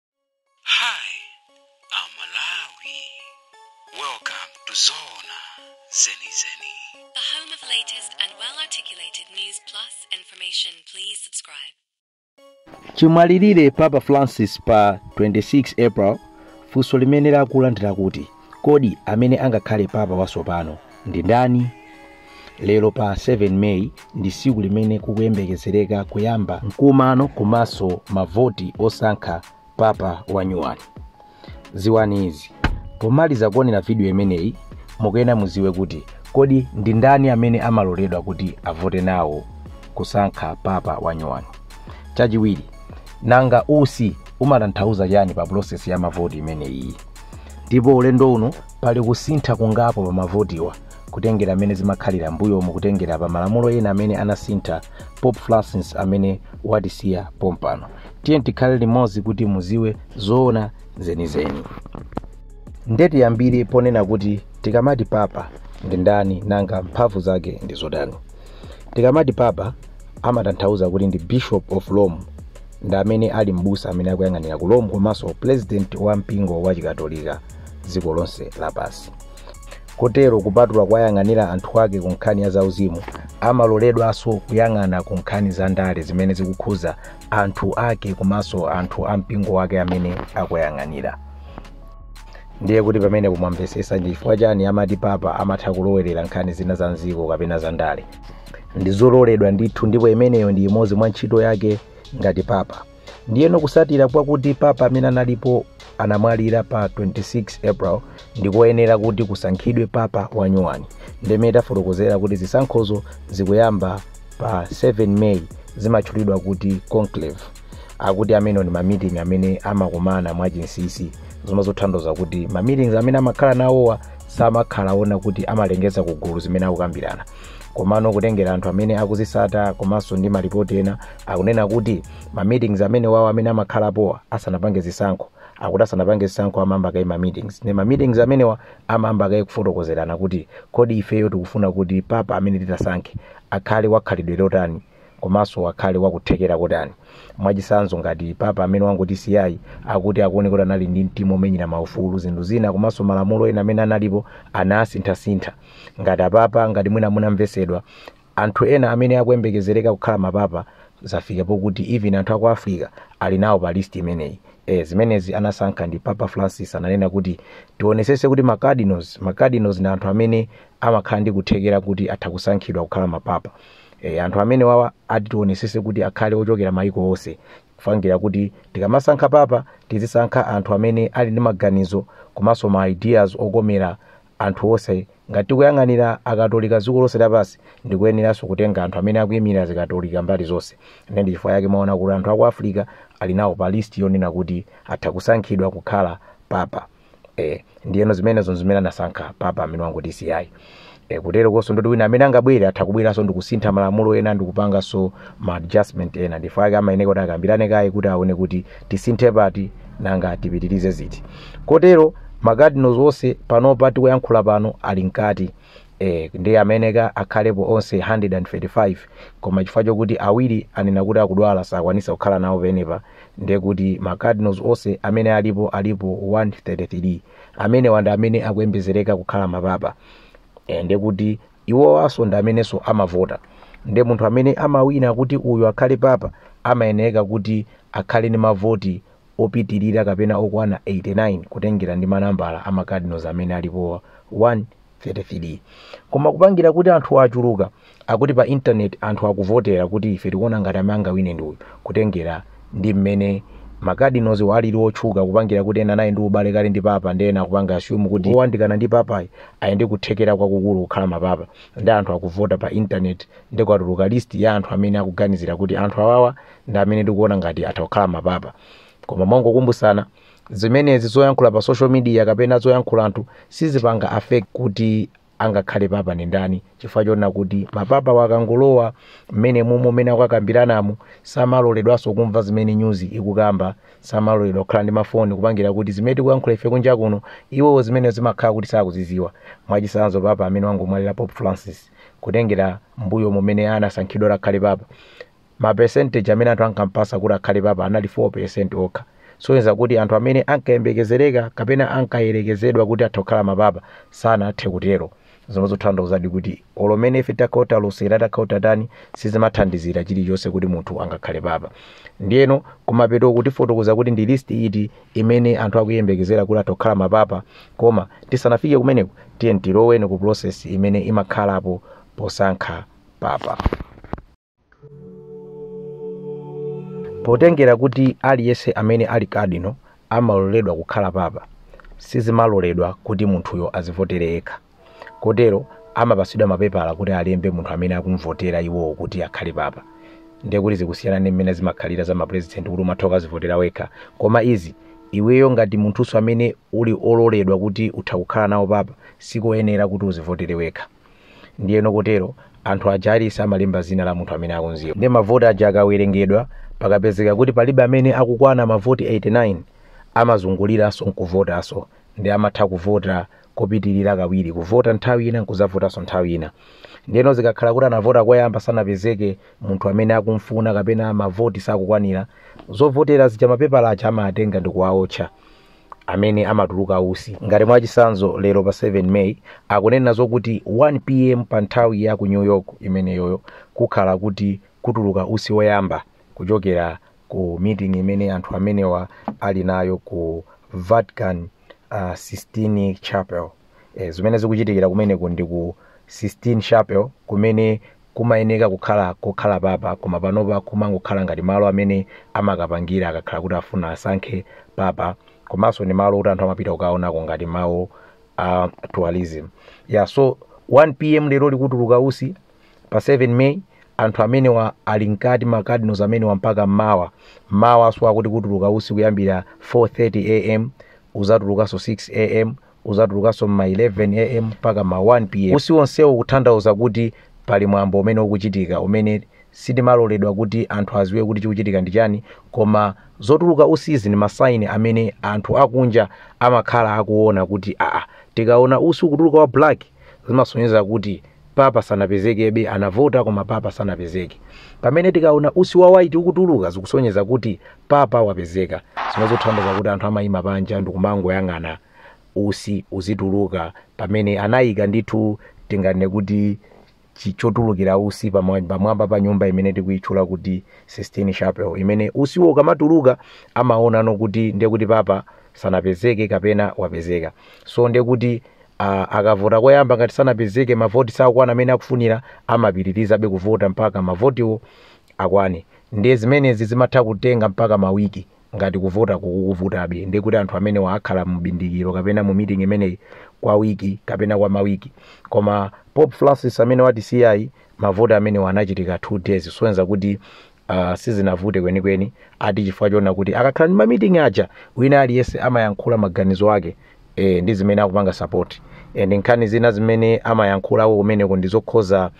Hi, I'm Malawi. Welcome to Zona Zeni Zeni. The home of latest and well articulated news plus information. Please subscribe. chimwalirire papa francis pa 26 april funso limene lakulandira kuti Kodi amene angakhale papa watsopano ndi ndani? Lero pa 7 May ndi tsiku limene kukuyembekezereka kuyamba mkumano komanso mavoti osankha papa wanyuwani. Ziwani izi, pomaliza kuonera vidiyo imeneyi mukuyenera mudziwe kuti kodi ndi ndani amene amaloledwa kuti avote nawo kusankha papa wanyuwani. Chachiwiri, nanga usi umatanthauza chani pa pulosesi ya mavoti imeneyi? ndipo ulendo uno pali kusintha kungapo pa mavotiwa kutengera mmene zimakhalira mbuyomu kutengera pa malamulo ena amene anasintha Pope Francis amene watisiya pompano tiyeni tikhale limodzi kuti muziwe zoona zenizeni nde tiyambire ponena kuti tikamati papa ndi ndani nanga mphamvu zake ndi zotani Tikamati Papa amatanthauza kuti ndi Bishop of Rome ndi amene ali m'busa amene akuyang'anira ku Rome komanso President wa mpingo wa Chikatolika dziko lonse lapansi. Kotero kupatula kuwayang'anira anthu ake ku nkhani ya zauzimu, amaloledwanso kuyang'ana ku nkhani za ndale zimene zikukhuza anthu ake komanso anthu a mpingo wake amene akuyang'anira. ndiye kuti pamenepo mwamvesesa ndi chifukwa chani amati papa amatha kulowerera nkhani zina za mziko kapena za ndale ndizololedwa ndithu ndipo imeneyo ndi imodzi mwa ntchito yake ngati papa ndiyeno kusatira kwakuti papa amene analipo anamwalira pa 26 april ndikoyenera kuti kusankhidwe papa wanyuwani ndiye mmene tafotokozera kuti zisankhozo zikuyamba pa 7 may zimatchulidwa kuti conclave akuti amenewo ndi ma meeting amene amakumana mwachinsisi zomwe zotanthauza kuti ma meetings amene amakhala nawowa samakhala onena kuti amalengeza ku gulu zimene akukambirana komano kutengera anthu amene akuzisata komanso ndi malipoti ena akunena kuti ma meetings amenewawa amene amakhalapowa asanapange zisankho akuti asanapange zisankho amayamba kaye ma meetings ne ma meetings amenewa amayamba kaye kufotokozerana kuti kodi ifeyo tikufuna kuti papa amene titasankhe akhale wakhalidwe lotani komanso akhale wakuthekera kotani. Mwachitsanzo ngati papa amene wangotisiyayi akuti akuoneka kuti anali ndi mtima womenyera maufulu, zinthu zina komanso malamulo ena amene analipo anasinthasintha. Ngati apapa, ngati mwina munamvetsedwa, anthu ena amene akuyembekezereka kukhala mapapa zafika poti even anthu a ku Africa ali nawo pa list imeneyi. Eh, zimenezi anasankha ndi Papa Francis ananena kuti tionetsetse kuti ma cardinals, ma cardinals ndi anthu amene amakhala ndi kuthekera kuti atha kusankhidwa kukhala mapapa. E, anthu amenewawa ati tionesese kuti akhale ochokera maiko onse kupangira kuti tikamasankha papa tizisankha anthu amene ali ndi maganizo komanso ma ideas okomera anthu onse ngati tikuyang'anira akatolika dziko lonse lapansi ndikoyeneranso kutenga anthu amene akuyimirira zikatolika mbali zonse ne ndi chifukwa yake mwaona kuti anthu aku africa ali nawo pa list yonena kuti atha kusankhidwa kukhala papa e, ndiyeno zimenezo nzimene anasankha papa amene wangotisiyayi e, koteroko nso ndoti wina amene angabwere atha kubweranso ndikusintha malamulo ena ndikupanganso ma adjustment ena ndi chifukwa chake amayeneka kuti akambirane kaye kuti aone kuti tisinthe pati nanga tipitirize ziti kotero macardinals onse panopa tikuyankhula pano ali mkati eh, ndiye amayeneka akhalepo onse 135 koma chifukwa chokuti awiri anena kuti akudwala sakwanisa kukhala nawo penepa ndiye kuti ma cardinals onse amene alipo alipo 133 amenewa ndi amene akuyembezereka kukhala mapapa eh, ndiye kuti iwowanso ndi amenenso amavota ndiye munthu amene amawina kuti uyu akhale papa amayeneka kuti akhale ndi mavoti opitirira kapena okwana 89 kutengera ndi manambala a ma cardinals amene alipowa 133 koma kupangira kuti anthu achuluka akuti pa internet anthu akuvotera kuti ife tikuona ngati amene angawine ndi uyu kutengera ndi mmene ma cardinalswa alili otchuka kupangira kuti ena anali ndi ubale kale ndi papa ndiye ena akupanga assume kuti owandikana ndi papayi ali ndi kuthekera kwakukulu kukhala mapapa ndiye anthu akuvota pa internet ndiye kwatuluka list ya anthu amene akuganizira kuti anthu awawa ndi amene tikuona ngati atha kukhala mapapa koma mongokumbutsana zimenezi zoyankhula pa social media kapena zoyankhula anthu sizipanga affect kuti angakhale papa ndi ndani chifukwa chonena kuti mapapawa akangolowa mmenemumo mmene akukambiranamu samaloledwanso kumva zimene news ikukamba samaloledwa kukhala ndi mafoni kupangira kuti zimene tikuyankhula ife kunja kuno iwowo zimenezo zimakhala kuti sakuziziwa mwachisanzo papa amene wangomwalira pope francis kutengera mbuyomu mmene anasankhidwa akhale papa ma percentage amene anthu ankampasa kuti akhale papa anali 4% okha kusonyeza kuti anthu amene ankayembekezereka kapena ankayerekezedwa kuti atha kukhala mapapa sanathe kutero zomwe zikutanthauzadi kuti olo mene ife tikutha kulosera tikutha kutani sizimathandizira chilichonse kuti munthu angakhale papa ndiyeno kumapetoku tifotokoza kuti ndi list iti imene anthu akuyembekezera kuti atha kukhala mapapa koma tisanafike kumeneko tiyeni tilowe ku process imene imakhalapo posankha papa potengera kuti aliyense amene ali cardinal amaloledwa kukhala papa sizimaloledwa kuti munthuyo azivotere yekha kotero amapatsidwa mapepala kuti alembe munthu amene akumvotera iwowo kuti akhale papa ndiye kuti zikusiyana ndi mmene zimakhalira za mapurezidenti kuti umatha kukazivotera wekha koma izi iweyo ngati munthunso amene uli ololedwa kuti utha kukhala nawo papa sikoyenera kuti uzivotere wekha Ndiyeno kotero, anthu aja aliyense amalemba zina la munthu amene akumziwa. Ndiye mavoti aja akawerengedwa, pakapezeka kuti palibe amene akukwana mavoti 89, amazunguliranso nkuvotanso. Ndiye amatha kuvota kopitirira kawiri, kuvota nthawi ina nkuzavotanso nthawi ina. Ndiyeno zikakhala kuti anavota koyamba sanapezeke munthu amene akumfuna kapena mavoti sakukwanira, zovotera zija mapepala aja amawatenga ndikuwaotcha. amene amatuluka usi ngati mwachisanzo lero pa 7 may akunena zokuti 1 pm pa nthawi ya ku new york imeneyoyo kukhala kuti kutuluka usi woyamba kuchokera ku meeting imene anthu amenewa ali nayo ku vatican uh, sistine chapel e, zimene zikuchitikira kumeneko ndi ku Sistine Chapel kumene kumayeneka kukhala kokhala papa koma panopa kumangokhala ngati malo amene amakapangira akakhala kuti afuna asankhe papa komanso ndi malo kuti anthu amapita kukaonako ngati malo a tourism yeah, so 1 pm lero kukutuluka usi pa 7 may anthu amenewa ali mkati ma cardinals amenewa mpaka mawa mmawa so akuti kutuluka usi kuyambira 4:30 am uzatulukanso 6 am uzatulukanso m'ma 11 am mpaka ma 1 pm usi wonsewu kuthandauza kuti pali mwambo umene ukuchitika umene sitimaloledwa kuti anthu aziwe kuti chikuchitika ndi chani koma zotuluka usizi ndi ma sign amene anthu akunja amakhala akuona kuti aa tikaona usi ukutuluka wa black zimasonyeza kuti papa sanapezekebe anavota koma papa sanapezeke pamene tikaona usi wa white ukutuluka zikusonyeza kuti papa wapezeka zimangothandiza kuti anthu amayima panja ndikumangoyang'ana usi uzituluka pamene anayika ndithu tinganene kuti chi- chotulukira usi pamwa- pamwamba pa nyumba imene tikuyitchula kuti sistine chapel imene usiwo ukamatuluka amaona ano kuti ndiye kuti papa sanapezeke kapena wapezeka so ndiye kuti a- akavota koyamba ngati sanapezeke mavoti sakukwana amene akufunira amapitirizabe kuvota mpaka mavotiwo akwane ndiye zimenezi zimatha kutenga mpaka mawiki ngati kuvota kukuvutabe ndiye kuti anthu amenewa akhala mu bindikiro kapena mu meeting imeneyi kwa wiki kapena kwa mawiki koma pope francis amene watisiyayi mavoti amenewa anachitika two days kusonyeza kuti Uh, sizinavute kwenikweni ati chifukwa chonena kuti akakhala ndi mamiting aja wina aliyense amayankhula maganizo ake e, ndi zimene akupanga sapoti e, ndi nkhani zina zimene amayankhulako kumeneko ndi zokhuza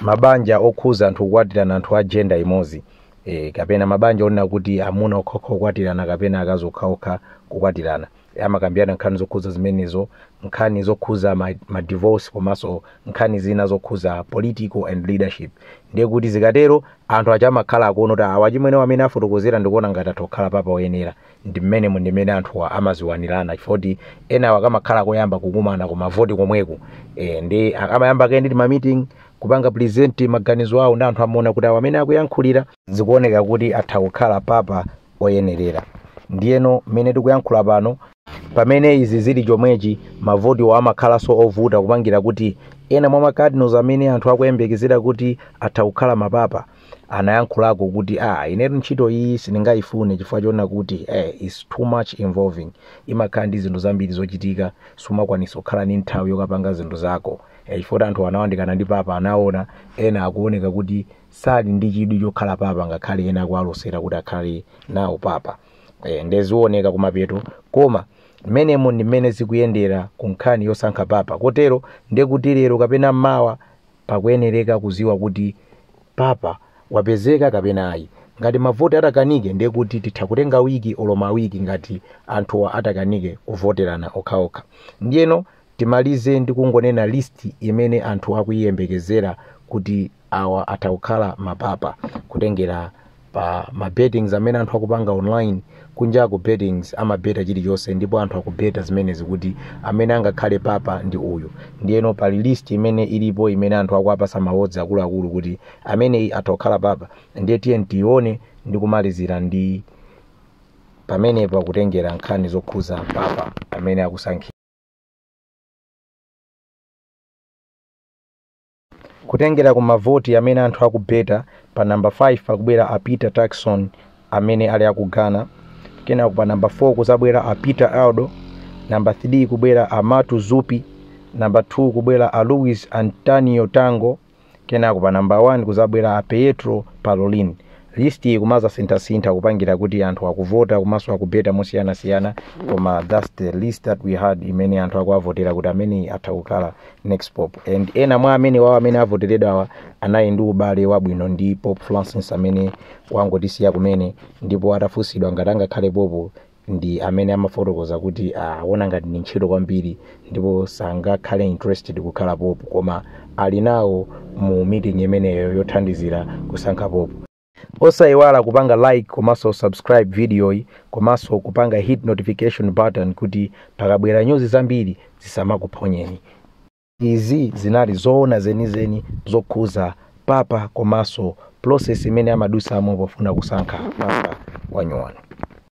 mabanja okhuza anthu kukwatirana anthu a jenda imodzi e, kapena mabanja onena kuti amuna okhaokha kukwatirana kapena akazi okhaokha kukwatirana amakambirana nkhani zokhuza zimenezo nkhani zokhuza ma, ma divorce komanso nkhani zina zokhuza political and leadership ndiye kuti zikatero anthu aja amakhala akuona kuti awa achimwene mmene afotokozera ndikuona ngati atha kukhala papa oyenera ndi mmene mu ndi mmene anthuwa amaziwanirana chifoti enawa kumakhala koyamba kukumana ku mavoti komweko e, ndi amayamba kaye ndi mamiting kupanga present maganizo awo ndi anthu amaona kuti awa mmene akuyankhulira zikuoneka kuti atha kukhala papa oyenerera. Ndiyeno, mmene tikuyankhula pano, pamene izi zili chomwechi, mavotiwo amakhalanso ovuta kupangira kuti ena mwa ma cardinals amene anthu akuyembekezera kuti atha kukhala ma papa anayankhulako kuti ah inetu ntchito iyi sindingaifune chifukwa choona kuti eh, its too much involving imakhala ndi zinthu zambiri zochitika sumakwanisa kukhala ndi nthawi yokapanga zinthu zako eh, chifukwa kuti anthu anayandikana ndi papa anaona ena akuoneka kuti sali ndi chidwi chokhala papa ngakhale ena akuwalosera kuti akhale nawo papa e, nde zioneka kumapeto koma mmenemo ndi mmene zikuyendera ku nkhani yosankha papa kotero nde kuti lero kapena mawa pakuyenereka kuziwa kuti papa wapezeka kapena ayi ngati mavoti atakanike ndiye kuti titha kutenga wiki olo ma awiri ngati anthuwa atakanike kuvoterana okhaokha ndiyeno Timalize ndi kungonena list imene anthu akuiyembekezera kuti awa atha kukhala ma papa kutengera pa ma bettings amene anthu akupanga online. Kunjaku bettings amabeta chilichonse ndipo anthu akubeta zimenezi kuti amene angakhale papa ndi uyu. Ndiyeno pali list imene ilipo imene anthu akuwapatsa ma odds akuluakulu kuti ameneyi atha kukhala papa ndiye tiyeni tiione ndi kumalizira ndi pamenepa kutengera nkhani zokhuza papa amene akusankhidwa. kutengera ku mavoti amene anthu akubeta pa namba 5 pakubwera a peter turkson amene ali aku ghana kenako pa namba 4 kuzabwera a peter erdo namba 3 kubwera a matteo zuppi namba 2 kubwera a luis antonio tagle Kenako pa number 1 kuzabwera a Pietro Parolin. List iyi kumazasinthasintha kupangira kuti anthu akuvota komanso akubeta mosiyanasiyana koma that's the list that we had imene anthu akuwavotera kuti ameneyi atha kukhala next pope and ena mwa amene wawo amene avoteredwawa anali ndi ubale wabwino ndi pope francis amene wangotisiya kumene ndipo atafunsidwa ngati angakhale pope ndi amene amafotokoza kuti akuona ngati ndi ntchito kwambiri ndipo sangakhale interested kukhala pope koma ali nawo mu meeting imeneyo yothandizira kusankha pope osayiwala kupanga like komanso subscribe videoyi komanso kupanga hit notification button kuti pakabwera nyuzi zambiri zisamakuphonyeni izi zinali zoona zenizeni zokhuza papa komanso process imene amadusamo pofuna kusankha papa wanyuwani